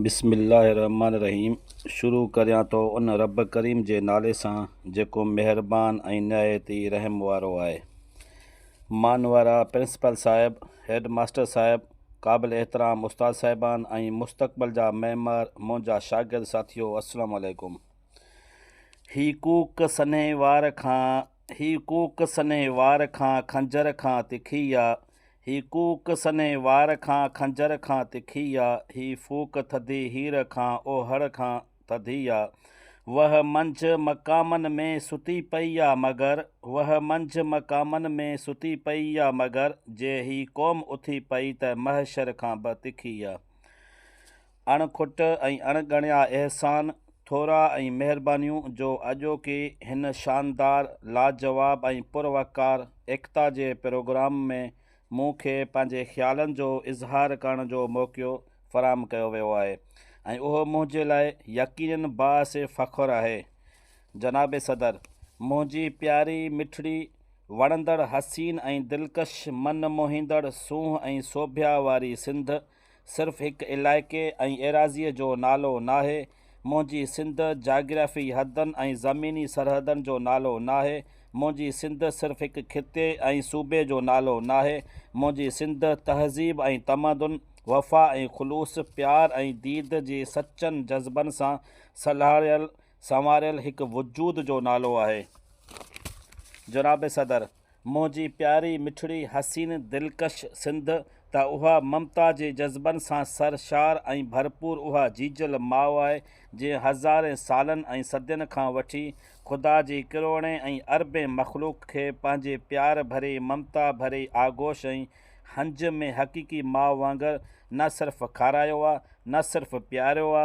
بسم الله الرحمٰن الرحيم شروع ڪريان ٿو ان رب ڪريم جي نالي سان جيڪو مهربان ۽ نهايت ئي رحم وارو آهي. مان وارا پرنسپل صاحب، هيڊ ماستر صاحب، قابل احترام استاد صاحبان ۽ مستقبل جا معمار منهنجا شاگرد ساٿيو السلام عليڪم. هي ڪوڪ سنهي وار کان هي ڪوڪ سنهي وار کان خنجر کان تکي آ. هي ڪوڪ سنهي وار کان خنجر کان تکي آ، هي ڦوڪ ٿڌي هير کان اوهڙ کان ٿڌي آ. وه منجهه مقامن ۾ ستي پئي آ مگر، وه منجهه مقامن ۾ ستي پئي آ مگر، جي هي قوم اٿي پئي ته محشر کان به تکي آ. اڻ کٽ ۽ اڻ ڳڻيا احسان، ٿورا ۽ مهربانيون جو اڄوڪي هن شاندار، لاجواب ۽ پر وقار ايڪتا جي پروگرام ۾ مون کي پنهنجي خيالن جو اظهار ڪرڻ جو موقعو فراهم ڪيو ويو آهي ۽ اهو منهنجي لاء يقينن باعث فخر آهي. جناب صدر! منهنجي پياري مٺڙي، وڻندڙ، حسين ۽ دلڪش، من موهيندڙ، سونهن ۽ سوڀيا واري سنڌ، صرف هڪ علائقي ۽ ايراضيء جو نالو ناهي، منهنجي سنڌ جاگرافي حدن ۽ زميني سرحدن جو نالو ناهي، منهنجي سنڌ صرف هڪ خطي ۽ صوبي جو نالو ناهي، منهنجي سنڌ تهذيب ۽ تمدن، وفا ۽ خلوص، پيار ۽ ديد جي سچن جذبن سان سلهاڙيل سنواريل هڪ وجود جو نالو آهي. جناب صدر! منهنجي پياري مٺڙي حسين دلڪش سنڌ ته اها ممتا جي جذبن سان سر شار ۽ ڀرپور اها جيجل ماء آهي جنهن هزارين سالن ۽ صدين کان وٺي خدا جي ڪروڙين ۽ اربين مخلوق کي پنهنجي پيار ڀري ممتا ڀري آغوش ۽ هنج ۾ حقيقي ماء وانگر نه صرف کارايو آ نه صرف پياريو آ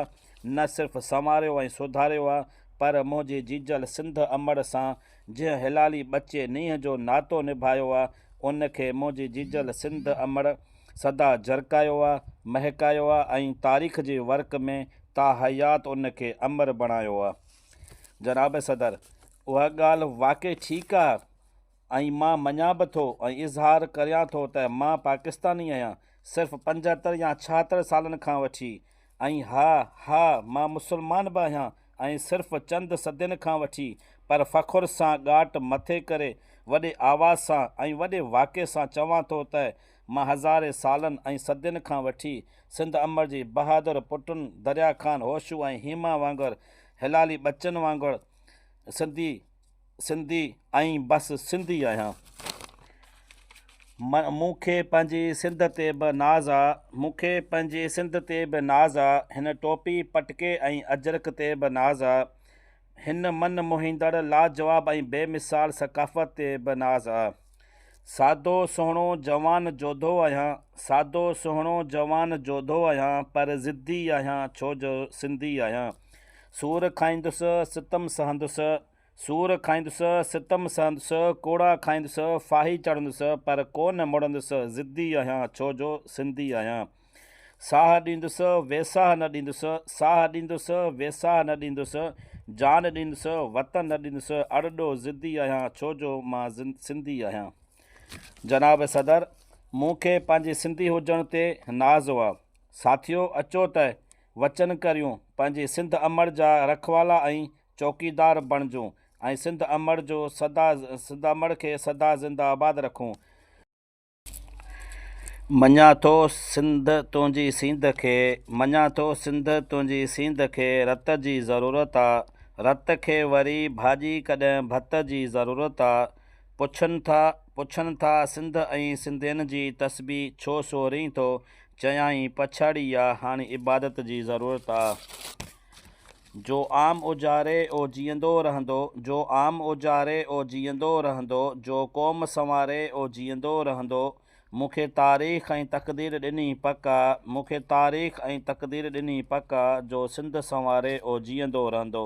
نه صرف سنواريو ۽ سڌاريو آ پر منهنجي جيجل سنڌ امڙ سان جنهن هلالي ٻچي نينهن جو ناتو نڀايو آ، ان کي منهنجي جيجل سنڌ امڙ سدا جرڪايو آ، مهڪايو آ ۽ تاريخ جي ورق ۾ تاحيات ان کي امر بڻايو آ. جناب صدر! اها ڳالهه واقعي ٺيڪ آ ۽ مان مڃان به ٿو ۽ اظهار ڪريان ٿو ته مان پاڪستاني آهيان، صرف پنجهتر يا ڇاهتر سالن کان وٺي، ۽ ها، ها، مان مسلمان به آهيان ۽ صرف چند صدين کان وٺي پر فخر سان ڳاٽ مٿي ڪري وڏي آواز سان ۽ وڏي واڪي سان چوان ٿو ته مان هزارين سالن ۽ صدين کان وٺي سنڌ امڙ جي بهادر پٽن دريا خان هوشو ۽ هيما وانگر هلالي ٻچن وانگر سنڌي سنڌي ۽ بس سنڌي آهيان. مون کي پنهنجي سنڌ تي به ناز آ. مون کي پنهنجي سنڌ تي به ناز آ. هن ٽوپي، پٽڪي ۽ اجرڪ تي به ناز آ. هن من موهيندڙ، لاجواب ۽ بي مثال ثقافت تي به ناز آ. سادو سهڻو جوان جوڌو آهيان سادو سهڻو جوان جوڌو آهيان پر ضدي آهيان ڇو جو سنڌي آهيان سور کائيندس ستم سهندس سور کائيندس ستم سهندس ڪوڙا کائيندس ڦاهي چڙهندس پر ڪو نه مڙندس ضدي آهيان ڇو جو سنڌي آهيان. ساهه ڏيندس، ويساهه نه ڏيندس، ساهه ڏيندس، ويساهه نه ڏيندس، جان ڏيندس، وطن نه ڏيندس، اڙڏو ضدي آهيان ڇو جو مان سنڌي آهيان. جناب صدر مون کي پنهنجي سنڌي هجڻ تي ناز هو. ساٿيو اچو ته وچن ڪريون پنهنجي سنڌ امڙ جا رکوالا ۽ چوڪيدار بڻجون ۽ سنڌ امڙ جو سدا سنڌ امڙ کي سدا زنده آباد رکون. مڃان ٿو سنڌ تنهنجي سينڌ کي مڃان ٿو سنڌ تنهنجي سينڌ کي رت جي ضرورت آ رت کي وري ڀاڄي ڪڏهن ڀت جي ضرورت آ پڇن ٿا پڇن ٿا سنڌ ۽ سنڌين جي تسبيح ڇو سورين ٿو چيائين پڇاڙي آ هاڻي عبادت جي ضرورت آ. جو عام اوجاري او جيئندو رهندو جو عام اوجاري او جيئندو رهندو جو قوم سنواري او جيئندو رهندو مون کي تاريخ ۽ تقدير ڏني پڪ آ مون کي تاريخ ۽ تقدير ڏني پڪ آ جو سنڌ سنواري او جيئندو رهندو.